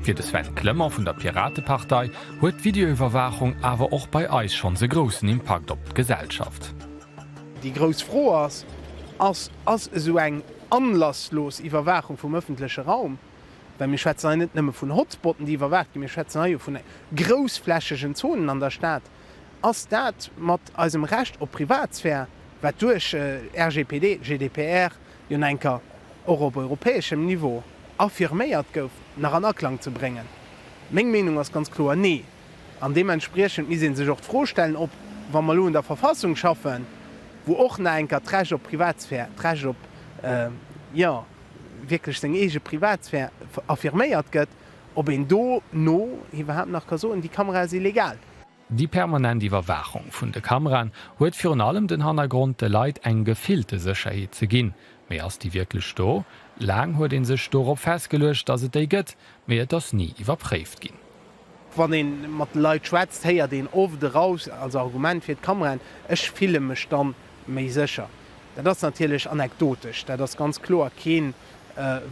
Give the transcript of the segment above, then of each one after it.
Fir de Sven Clement vun der Piratepartei huet d'Videoiwwerwaachung awer och bei eis schonns e groussen Impakt op d'Gesellschaft. Déi grouss Fro ass, Ass ass esou eng anlasslos Iwwerwaachung vum ëffentleche Raum, well mir schwätzen hei net nëmme vun Hotspotten, déi iwwerwaacht ginn, mir schwätzen hei jo vun groussflächegen Zonen an der Stad, ass dat mat eisem Recht op Privatsphär, wat duerch RGPD, GDPR jo enker och op europäeschem Niveau affirméiert gouf, nach an Aklang ze bréngen? Meng Meenung ass ganz kloer nee. An deementspriechend misst ee sech och d'Fro stellen, ob, wa mer elo un der Verfassung schaffen, wou och nach enker d'Recht op Privatsphär, d'Recht op, jo, wierklech seng eege Privatsphär affirméiert gëtt, ob een dono iwwerhaapt nach ka soen, déi Kamera ass illegal. Déi permanent Iwwerwaachung vun de Kameraen huet virun allem den Hannergrond, de Leit eng gefillte Sécherheet ze ginn. Mee ass déi wierklech do? Laang huet ee sech dorop festgeluecht, datt et déi gëtt, mee et ass ni iwwerpréift ginn. Wann ee mat de Leit schwätzt, héiert een oft eraus als Argument fir d'Kameraen, Ech fille mech dann méi sécher. Dat ass natierlech anekdotesch. Dat ass ganz kloer keen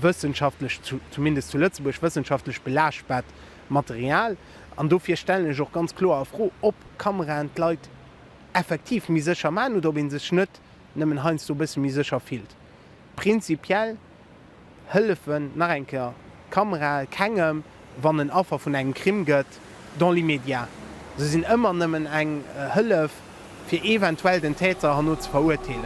wëssenschaftlech, zumindest zu Lëtzebuerg, wëssenschaftlech belaaschtbart Material. An dofir stellen ech och ganz kloer a Fro, ob Kameraen d'Leit effektiv méi sécher maachen oder ob ee sech net nëmmen heiansdo e bësse méi sécher fillt. Prinzipiell hëllefen, nach eng Kéier, Kamerae kengem, wann en Affer vun engem Crime gëtt, dans l'immédiat. Se sinn ëmmer nëmmen eng Hëllef, fir eventuell den Täter herno ze verurteelen.